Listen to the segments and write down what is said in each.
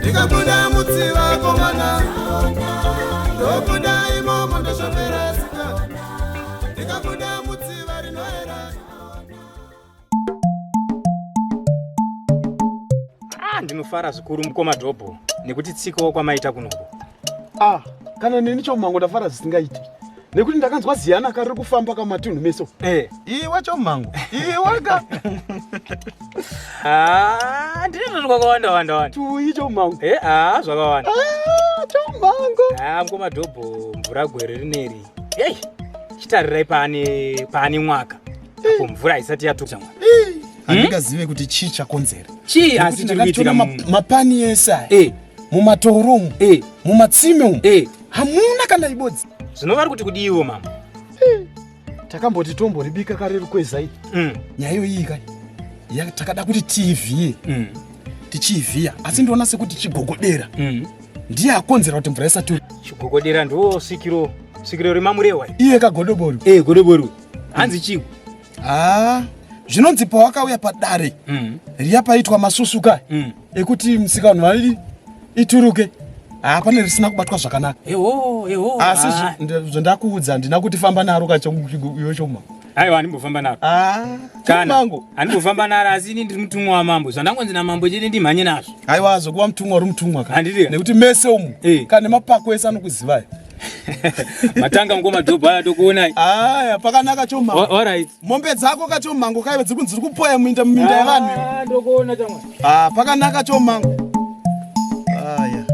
ndikabuda mutsiva komana ndobuda imomo ndosvopera sika ndikabuda mutsiva rinoera ah, ndinofara zvikuru mukoma dhobho nekuti tsikawo kwamaita kunoko ah, kana neni chomango ndafara zvisingaiti nekuti ndakanzwa ziyana ka riri kufamba ka matunhu meso eh. iwe chomhangu iwe ka ah, ndiri zviri kwakawanda wanda wanda tuyi chomhangu e eh, a ah, zvakawanda ah, chomhangu a mukoma dhobho mvura gwere rineri ei chitarirai paane paane mwaka apo mvura haisati yatuka mwana handikazive kuti chii chakonzera chii asi chiri kuitika mapani ese aya eh. mumatoro umu eh. mumatsime umu eh. hamuna kana ibodzi zvino vari kuti kudiiwo mama eh. takamboti tomboribika kare rukwezai mm. nyaya iyo iyi kani takada kuti tiivhiye mm. tichiivhiya asi ndoona sekuti chigogodera mm. ndiye akonzera kuti mvura isati chigogodera ndo svikiro svikiro remamurehwa iye kagodobori e eh, godobori hanzi chii haa zvinonzi pawakauya padare mm. riya paitwa masusuka mm. ekuti msikanhu vairi ituruke haa pane risina kubatwa zvakanaka asi ah. zvandakuudza handina kuti famba naro kachoiwe choma aiwa handimbofamba naro ah, kana handimbofamba naro asi ini ndiri mutumwa wamambo zvandangonzi namambo chete ndimhanye nazvo aiwa zvokuva mutumwa uri mutumwa ka nekuti mese umu eh. kana nemapako ese anokuzivai matanga ngo madhobha aya tokuonai aya pakanaka choma alright mombe dzako kachomango kaive dziri kunzi dziri kupoya muinda muminda ah, yevanhu ndokuona chama ah pakanaka chomango aya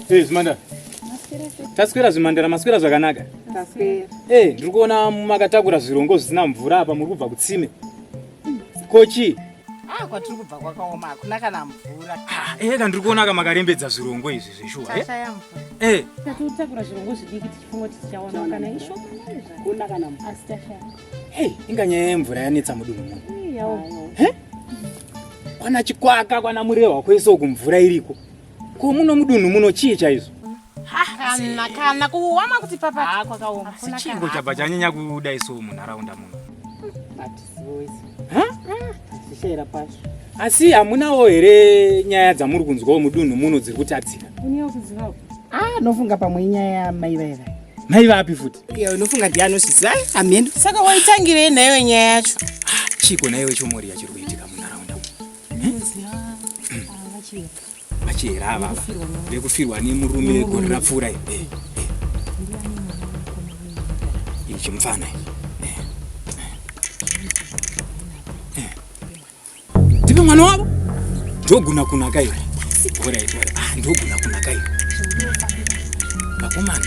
Hey, Zimanda. taswera zvimhandara maswera zvakanaka eh ndiri kuona makatakura zvirongo zvisina mvura apa muri kubva kutsime kochi ah, kwatiri kubva kwakaoma hakuna kana mvura ah, eka eh, ndiri kuona ka makarembedza zvirongo izvi zveshuwa eh? eh tatotakura zvirongo zvidiki tichifunga kuti tichawana kana ishokuna kana mvura asi tashaya hey inga nyaya yemvura yanetsa mudunhu muno kwana chikwaka kwana murehwa kwese uku mvura iriko Ko muno mudunhu muno chii chaizvo? Kana kana kuwama kuti papa ah, kwakaoma. Sichingo chapa chanyanya kuda iso munharaunda muno. Zvishaira pashi. Asi hamunawo here nyaya dzamuri kunzwawo mudunhu muno dziri kutatsika? Ah, nofunga pamwe inyaya yamai vaiva. Mai vapi futi? Iyo unofunga ndiye anozviziva hameno. Saka waitangirei nayo nyaya yacho? Ah, Chiko naiwe chomori yachiri kuitika munharaunda. vachihera ava vekufirwa nemurume gore rapfuura eh, eh, eh. ichi mufana ndive mwana wavo ndoguna kunaka iwe ah, ndoguna kunaka iwe vakomana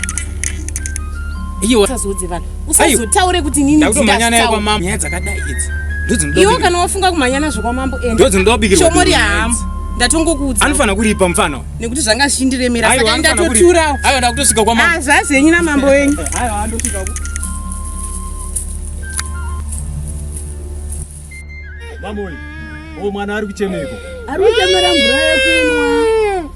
iwe usazoudze vanhu usazotaure kuti nini ndakutomhanya naye kwamambo nyaya dzakadai idzi iwe kana wafunga kumhanya nazvo kwamambo endodzindobikirshomori yahamu ndatongokuudza anofanira kuripa mfana nekuti zvanga zvichindiremera saka ndatoturawo aiwa ndakutosvika kwamambo ah, zvazi henyu namambo wenyu mambo uyu mwana ari kuchemeko ari kuchemera mvura yekunwa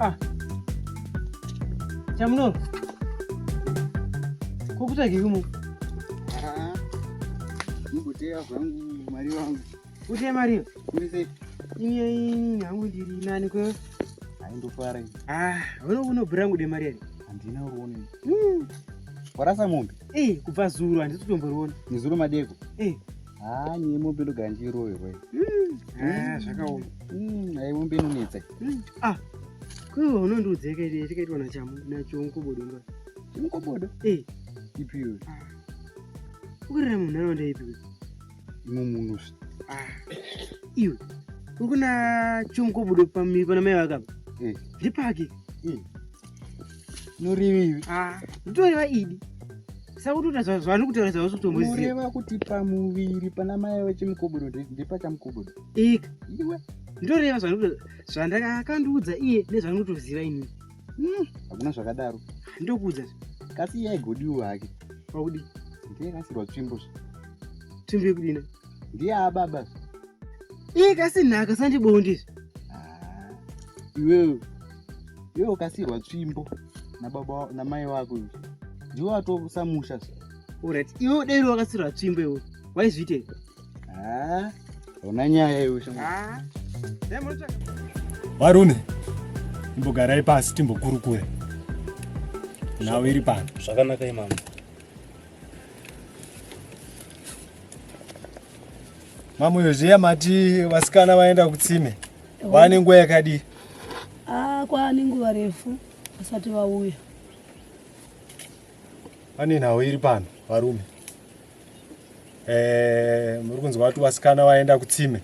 Ah. Chamuno. Kukuta kikumu. Ah. Nikutea kwangu mari wangu. Kutea mari. Kumise. Iye ini hangu ndiri nani kwa. Aindofara. Ah, wewe unobira ngude mari yake. Andina uone. Mm. Warasa mombe. Eh, kubva zuru andisi kutomboriona. Ni zuru madeko. Eh. haa nyee mombe ndogara ndichiroverwa eh, zvakaoma hmm, ai mombe inonetsa hmm, ah, kuiwa unondiudzei kaidi tikaitwa nachamu nachonkobodo nga chimkobodo eh. ipiwe ah. ukurira munhu anonda ipiwe imwe munhu ah. iwe ukuna chomkobodo pamiri pana mai vakapa eh. ndipaki norivivi ah. nditoreva idi sakutoita zvavani kutaura zvausi kutomboziva kuti pamuviri pana mai vechimukobodo ndepachamukobodo ika iwe nditoreva zvandakakandiudza iye nezvani kutoziva ini hmm. hakuna zvakadaro ndokuudza kasi iye aigodiwo hake pakudi ndiyekasirwa tsvimbo tsvimbo yekudina ndiye ababa iye kasinhaka sandibondi ah, iwewe iwe ukasirwa tsvimbo nababa namai wako izvi ndiwe watosamusha orit iwe udairi wakasirwa tsvimbo iwe waizviite ah, ona nyaya iwe varune ah, imbogarai pasi timbokurukure nhau iri pano zvakanaka imama Mamoyo zviya mati vasikana vaenda kutsime vane nguva yakadii? Ah, kwaane nguva refu vasati vauya. Pane nhau iri pano varume. Eh, muri kunzwa kuti vasikana vaenda kutsime.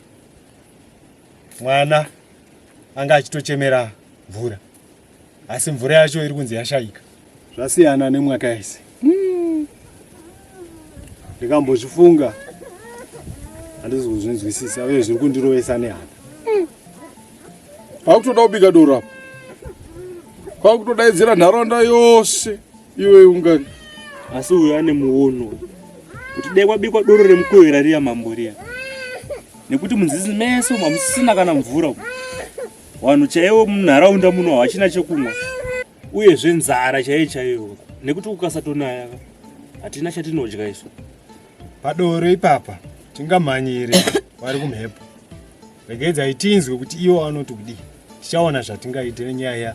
Mwana anga achitochemera mvura. asi mvura yacho iri kunzi yashaika zvasiyana nemwaka yese hmm. ndikambozvifunga mm handizi kuzvinzwisisa uye zviri kundirovesa nehana kwakutoda kubika doro apo kwakutodaidzira nharaunda yose iwe ungani asi uyo ane muono kuti dai kwabikwa doro remukohera riya mambo riya nekuti munzizi mese umu hamusisina kana mvura umu Vanhu chaivo munharaunda muno havachina chekumwa uyezve nzara chaiyo chaiyo nekuti kukasatonaya hatina chatinodya isu. Padoro ipapa tingamhanyire vari kumhepo. Regedzai tinzwe kuti iwo anoti kudii. Tichaona zvatingaite nenyaya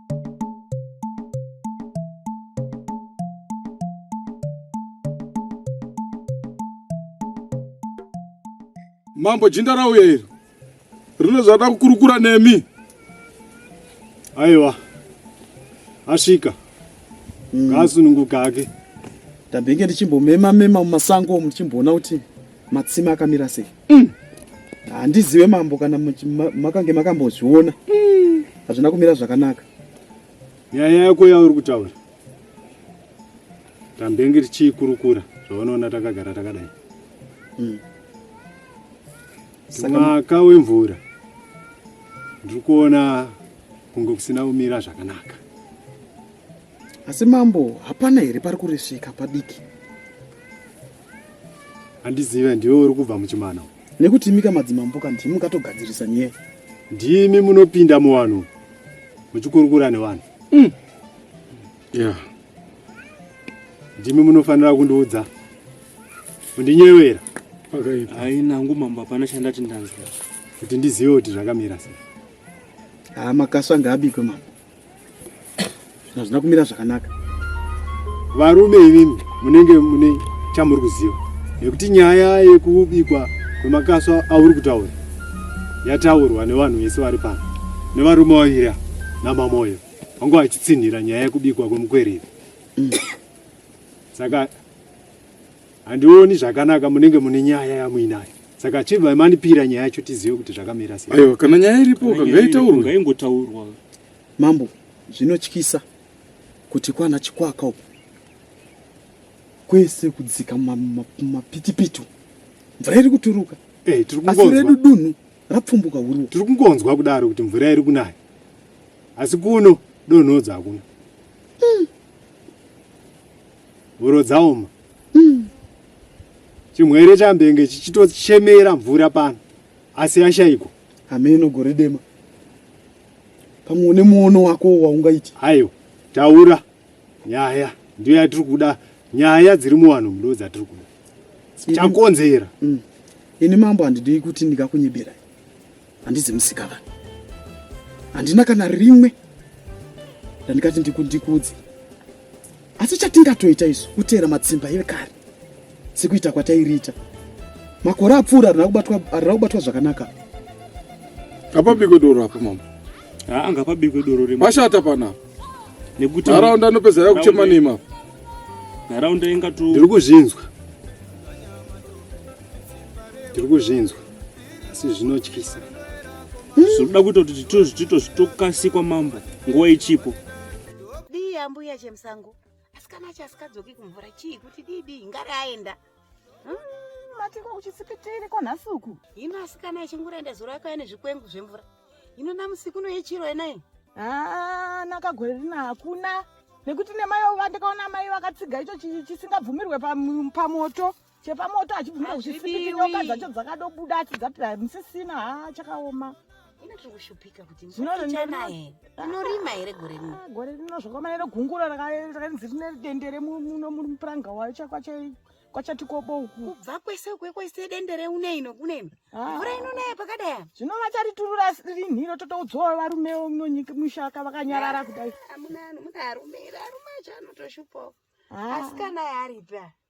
mambo jinda rauya iri rine zvada kukurukura nemi aiwa asvika mm. ngaasununguka ake tabenge tichimbomema mema mumasango muchimboona kuti Matsime akamira sei? Mm. Handizive mambo kana makange makambozviona. Mm. Hazvina kumira zvakanaka. Nyaya yako yauri kutaura. Tambenge tichikurukura zvaunoona takagara takadai. Mm. Mwaka wemvura ndiri kuona kunge kusina kumira zvakanaka. asi mambo hapana here pari kuresveka padiki handizive ndiwe uri kubva muchimana nekuti imika madzimambo ka ndimi katogadzirisa nyee ndimi munopinda muvanhu muchikurukura nevanhu mm. yeah. ndimi munofanira kundiudza undinyevera ainangu mambo hapana chandati ndanzwa kuti ndizive kuti zvakamira sei haa ah, makaswa ngaabikwe mambo hazvina kumira zvakanaka varume imimi munenge mune chamuri kuziva nekuti nyaya yekubikwa kwemakaswa auri kutaura yataurwa nevanhu vese vari pano nevarume vavira namamoyo vangu vachitsinhira nyaya yekubikwa kwemukwereri mm. saka Handioni zvakanaka munenge mune nyaya yamuinayo. Saka chibva manipira nyaya yacho tizive kuti zvakamira sei. Aiwa kana nyaya iripo kangaitaurwa. Ngaingotaurwa. Mambo zvinotyisa kuti kwana chikwaka uko kwese kudzika mapitipitu mvura iri kuturuka eh, asi redu dunhu rapfumbuka huru tiri kungonzwa kudaro kuti mvura iri kunaya asi kuno donhodza hakuna hmm. huro dzaoma Hmm. Chimwere chambenge chichitochemera mvura pano asi yashaikwa. Hameno gore dema. Pamwe une muono wako waungaita. Hayo, taura nyaya ndiyo yatiri kuda nyaya dziri muwanhu mudo dzatiri kuda chakonzera mm. ini mambo handidii kuti ndikakunyeberai handizi musika vanhu handina kana rimwe randikati ndikundikudze asi chatingatoita isu kuteera matsimba evekare sekuita kwatairiita makore apfuura harina kubatwa zvakanaka ngapabikwe doro apo mama haa ngapabikwe doro re mashata panapa nekuti nharaunda anopedza ya kuchema nema nharaunda ingato ndiri kuzvinzwa ndiri kuzvinzwa asi zvinotyisa zvinoda kuita kuti titozvitito zvitokasikwa mambo nguva ichipo dii ambuya chemusango asikana acho asikadzoki kumvura chii kuti dii dii ngari aenda hmm, matiko kuchitsipitiri kwanhasi uku hino asikana achingoraenda zuro akauya nezvikwengu zvemvura hino namusiku unoyechiro enai haa nakagore rina hakuna nekuti nemai ova ndakaona mai vakatsiga icho chisingabvumirwe pamoto pa chepamoto achibvuma kuchifipiti nyoka dzacho dzakadobuda achi dzati musisina ha chakaoma inorima here gore rino ah, gore rino zvakaoma nero gungura rakanzi rine dendere muno mupuranga wayo kwachati kobo uku kubva kwese ukwe kwese dendere uneino kuneino ah. mvura inonaya pakadaya zvino vachariturura rinhiro totoudzowa varume unonyika mushaka vakanyarara ah, kudai amuna arume arume acho anotoshupawo asikana yaaripi aya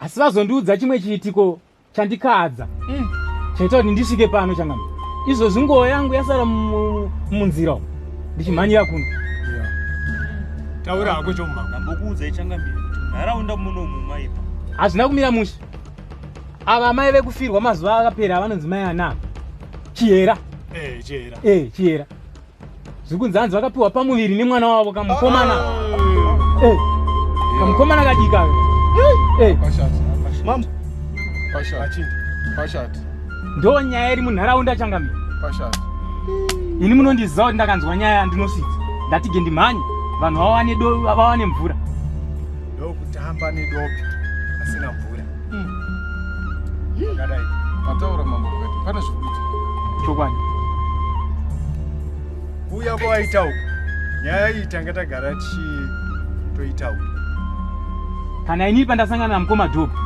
asi vazondiudza chimwe chiitiko chandikadza mm. chaita kuti ndisvike pano changami izvozvi nguva yangu yasara munzira umu ndichimhanyira kuno taura hako chomamambokuudzai changambiri nharaunda muno mumaipa hazvina kumira mushe ava amai vekufirwa mazuva akapera avanonzi mai anaa chihera eh, chihera eh, chihera zviri kunzi hanzi vakapiwa pamuviri nemwana wavo kamukomana ah. eh, kamukomana kadika eh. ndo nyaya iri munharaunda changami ini munondiziva kuti ndakanzwa nyaya yandinosvitsa ndatige ndimhanye vanhu vawane mvura ndokutamba nedopi asina mvura akadai mataura mambo kuti pane zvikuti chokwadi kuuya kwawaita uku nyaya iyi tanga tagara tichitoita uku kana ini pandasangana namukoma dopi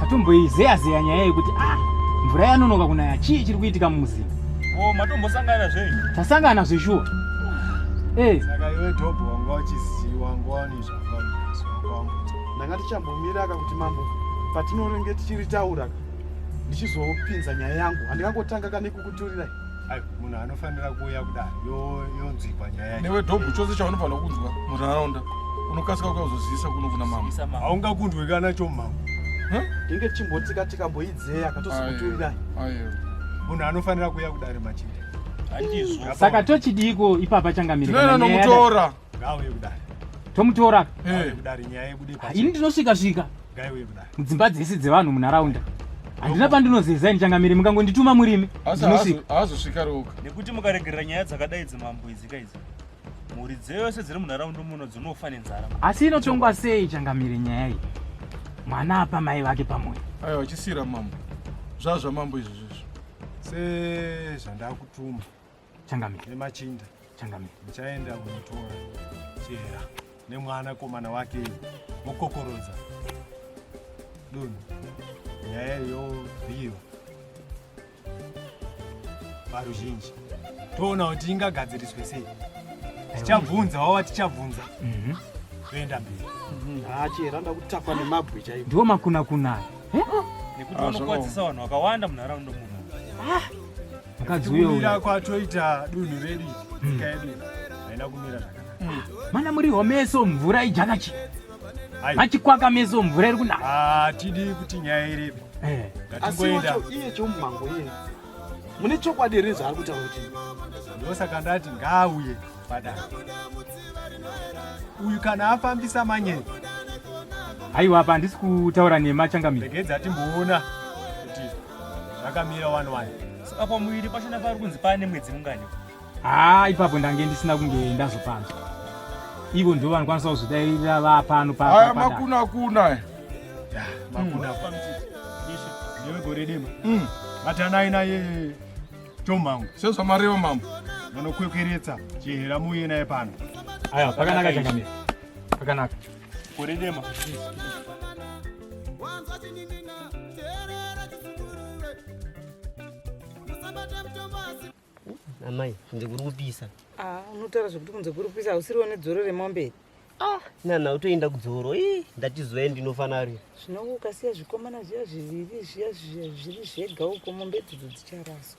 tatomboizeya zeya nyaya yekuti ah mvura yanonoka kunaya chii chiri kuitika mumuzinda o matombosangana zvenyu tasangana zveshuwa ee saka iwe dopi wanga uchiziva wanga wanizva ndanga tichambomiraka kuti mambo patinorenge tichiritaura ndichizopinza nyaya yangu handikangotanga kane kukuturira munhu anofanira kuuya kudai yonzwikwa nyaya newe dhobhu chose chaunofanira kunzwa munharaunda unokasika ukazozivisa kuno kuna mambo haungakundwe kana cho mambo tinge tichimbotsika tikamboidzeya katozokuturirai munhu anofanira kuuya kudare machinde saka tochidiiko ipapa changamirira ngauye kudari tomutora eh. kudari nyaya yebude pa ini ndinosvika svika ngauye kudari mudzimba dzese dzevanhu munharaunda handina pandinozeza ini changamiri mukangondituma murimi ndinosvika haazosvika roka nekuti mukaregerera nyaya dzakadai dzimambo idzi ka idzi mhuri dzeyose dziri munharaunda muno dzinofa nenzara asi inotongwa sei changamiri nyaya iyi mwana apa mai vake pamoyo aiwa uchisiyira mambo zvazvamambo izvozvizvo sezvandakutuma Changamire. Nemachinda. Changamire. Muchaenda kunotora chera nemwana komana wake mokokorodza dunhu nyaya yobhiirwa varuzhinji toona kuti ingagadziriswe sei tichabvunza wava tichabvunza mhm. toenda mberi mhm. ah, chera ndakutakwa nemabwe chaivo ndiwo makunakunaya nekuti ah, vanokwadzisa vanhu vakawanda munharaunda muno ah. kuwira kwatoita dunhu redu nyika yedu haina kumira zvakanaka mm. mana muri homeso mvura ijakachi machikwaka meso mvura iri kunaka hatidi ah, kuti nyaya iripo eh. ngatingoenda iye chomumango iye mune chokwadi here zvaari kutaura kuti ndosaka ndati ngaauye padaro uyu kana afambisa manyere haiwa apa handisi kutaura nema changamire regedza timboona kuti zvakamira wani wani saka pamuviri pachona pari kunzi paane mwedzi mungani haa ipapo ndange ndisina kunge ndazopanzwa ivo ndivo vanokwanisa kuzvidairira vapano paaya makuna kuna makuna kuna newe gore dema mm. vatanai naye tomhangu sezvamareva mambo vanokwekweretsa chihera muye naye pano aya pakanaka changamira pakanaka Kore dema. Wanzwa chiningina, teerera chisungurure. Musabata mutombo asi amai kunze kuri kupisa Ah, unotaura zvekuti kunze kuri kupisa hausiriwo nedzoro remombe iri nana utoenda kudzoro ii ndatizoya ndinofanarira zvino ukasiya zvikomana zviya zviviri zviya zviya zviri zvega uko mombe idzidzi dzicharaswa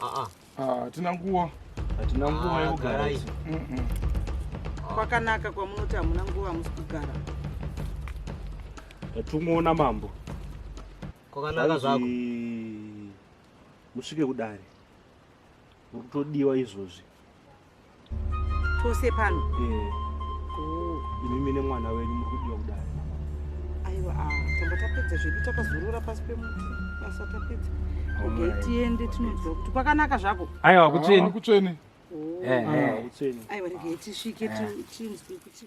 Ah, hatina nguva hatina ah, nguva yekugara kwakanaka kwamunoti hamuna nguva musi kugara atungoona mambo kwakanaka zvako musvike kudare uri kutodiwa izvozvi tose pano eh. imimi nemwana wenyu muri kudiwa kudai aiwa ah, tamba tapedza zvedu takazorora pasi pemuti basa tapedza okay tiende tinoziva kuti kwakanaka zvako aiwa kutsveni kutsveni aiwa regai tisvike tinzwe kuti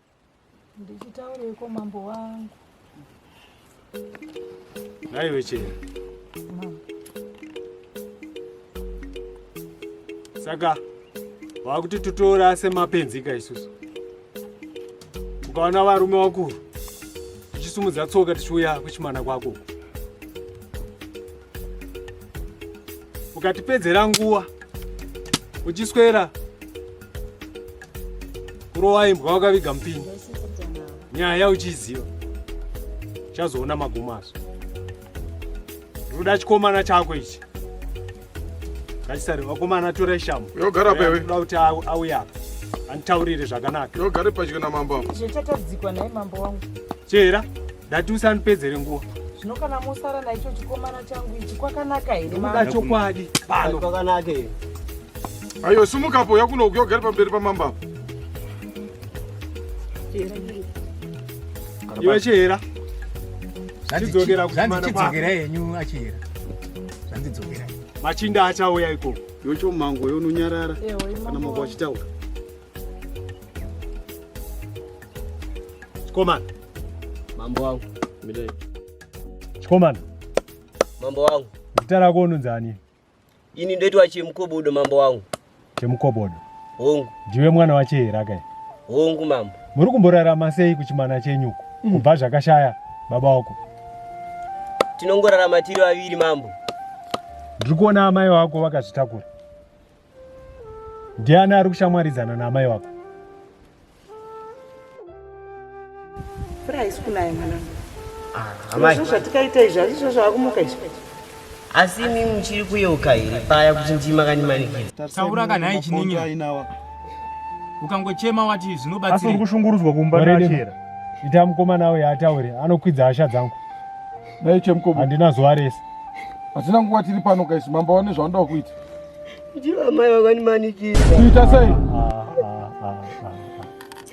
Ndichitaureiko mambo wangu? Nhai vechera. Saka wakuti tutora semapenzika isusu. Ukaona varume wakuru tichisumudza tsoka tichiuya kuchimana kwako. ukatipedzera nguva uchiswera kurova imbwa wakaviga mupini nyaya uchiziva chazoona magumazo ndoda chikomana chako ichi ngachisari vakomana tora ishamu yogara pewe ndoda kuti auya apa anditaurire zvakanaka yogare padyo namambo zvichatadzikwa naye mambo wangu Chera, ndati usanipedzere nguwa. Zvino kana mosara naicho chikomana changu ichi kwakanaka here mama? Kuda chokwadi pano. Kwakanaka here? Ayo sumuka po yakuno ukiyogera pamberi pamamba apo. Chera. Iwe chera. Zvandidzokera kumana kwako. Zvandidzokera yenyu achera. Zvandidzokera. Machinda achauya ikoko. Yocho mango yononyarara. Kana mango achitaura. Chikomana. Mambo wangu. Midai. Chikomana. Mambo wangu. Zita rako unonzi ani? Ini ndoitwa Chemukobodo mambo wangu. Chemukobodo. Hongu. Ndiwe mwana wache here akae? Hongu mambo. Muri kumborarama sei kuchimana chenyu uko? Mm. Kubva zvakashaya baba wako. Tinongorarama tiri vaviri mambo. Ndiri kuona amai wako vakazvitakura. ndiani ari kushamwaridzana naamai wako mvura haisi kunaya mwanangu ah, zvatikaita izvi hazvizvo zvavakumuka izvi asi imi muchiri kuyeuka here paya kuti ndima kanimanikira taura kana aichiningina ukangochema wati zvinobatsira uri kushungurudzwa kumba nachera ita mukoma nawo yaataure anokwidza hasha dzangu dai chemukoma handina zuva rese hatina nguva tiri pano kaisi mambo wane zvavanoda kuita Ndiva mai vakandimanikira. Kuita sei? Ah, ah, ah,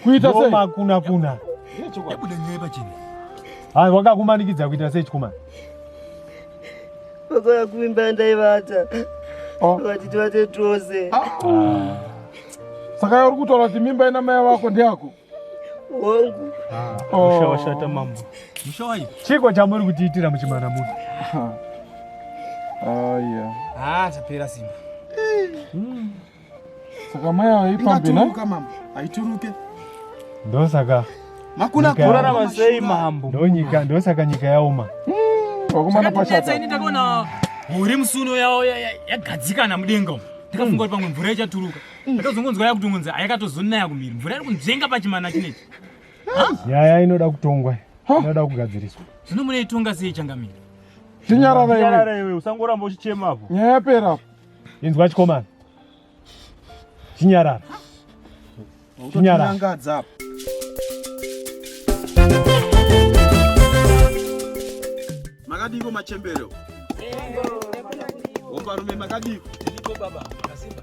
kuita sei? Roma kuna kuna. Yabuda nyaya pachini. Hai wakakumanikidza kuita sei chikomana? Vakauya kuimba ndaivata. Oh. Vakati tivate tose. Saka uri kutaura kuti mimba ina mai vako ndeyako? hongu ah, musha washata mambo musha wayi chiko chamuri kutiitira muchimana muno aya ah tapera simba hmm. saka mai ava ipambi na mambo haituruke ndosaka makuna kurarama sei mambo ndonyika ndosaka nyika yaoma hmm, wakomana pashata ini ndakaona mhuri musuno yagadzikana mudenga ndakafunga kuti pamwe mvura ichaturuka ndozongonzwa yakutongonzi ayakatozonaya kumiri mvura iri kunzvenga pachimana chinechi nyaya inoda kutongwa inoda kugadziriswa zvino muneitonga sei changamiri chinyarara iwe usangoramba uchichema apo nyaya yapera apo inzwa chikomana chinyarara chinyarara Makadiko machembere. Opa rume makadiko. Ndiko baba, kasimba.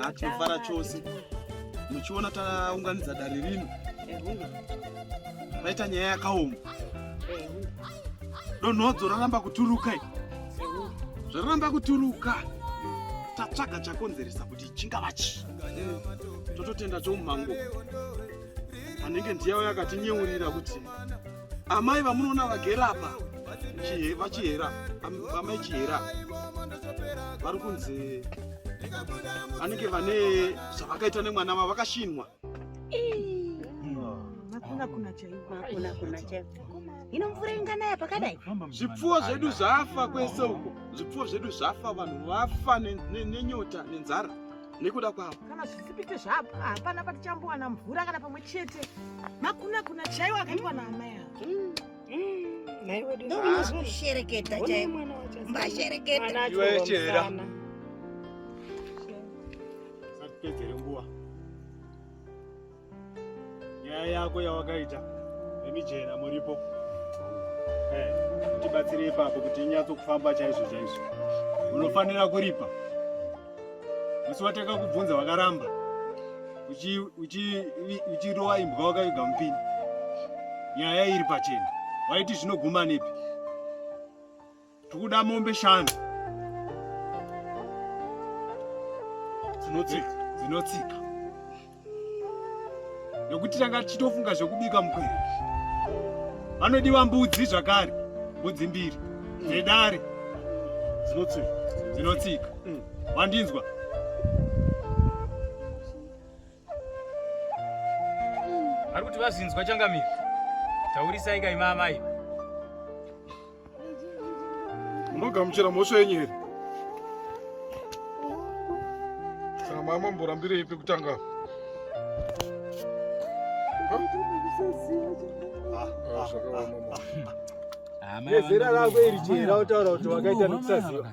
Ah, tinofara chose. Muchiona taunganidza dare rino. Paita nyaya yakaoma. Donhodzo raramba kuturuka. Zvaramba kuturuka. Tatsvaga chakonzeresa kuti chingava chi. Tototenda chomumango. Anenge ndiyawo yakatinyeurira kuti amai vamunoona vagera apa vachihera amai chihera vari kunzi vanenge vane zvavakaita nemwana vavo vakashinwa ino mvura inganaya pakadai zvipfuwo zvedu zvafa kwese uko zvipfuwo zvedu zvafa vanhu vafa nenyota nenzara nekuda kwavo kana zvisipite zvapo hapana patichambowana mvura kana pamwe chete makuna kuna chaiwo akaitwa naamai avo mm. ndomunoshereketa chaimbashereketaiwecherera satipedzere nguva nyaya yako yawakaita nemijena muripo tibatsire ipapo kuti inyatso kufamba chaizvo chaizvo unofanira kuripa musi wateka kubvunza wakaramba uchirova imbwa wakaviga mupini nyaya iri pachena waiti zvinoguma nepi Tikuda mombe shanu dzinotsika dzinotsika nekuti tanga tichitofunga zvekubika mukwere. Vanodiwa mbudzi zvakare, mbudzi mbiri dzedare dzinotsika dzinotsika. Mm. Wandinzwa? Ari kuti vazinzwa changamire. Taurisai kai mama iyi. Munogamuchira mhosva yenyu here? Kana mama mborambirei pekutanga? Nezera rako iri chera utaura kuti wakaita nekusaziva.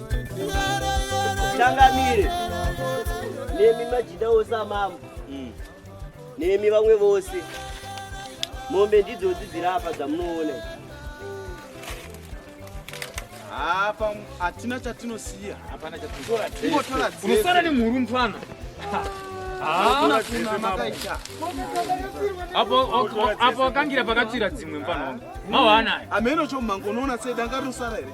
changamire nemi majida ose amambo mm. nemi vamwe vose mombe ndidzodzi dziri apa dzamunoona apa hatina chatinosiya hapana chatinosara nemhuru mfana apo akangira pakatsvira dzimwe mfana wangu mawaanayo ameno chomango unoona sei danga rinosara here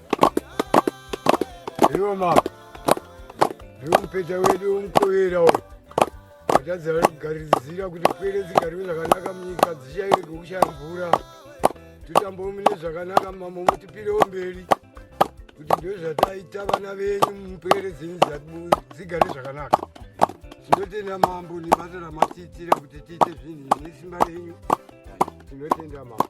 Iwo mama. Iwo mpeta wedu umkowera uyu. Atadza kugarizira kuti pwere dzigarwe zvakanaka munyika dzichaire kukushaya mvura. Tutambo mune zvakanaka mama mutipirewo mberi. Kuti ndozvataita vana venyu mupwere dzenyu dzigare zvakanaka. Tinotenda mambo nebasa ramatiitira kuti tiite zvinhu nesimba renyu. Tinotenda mambo.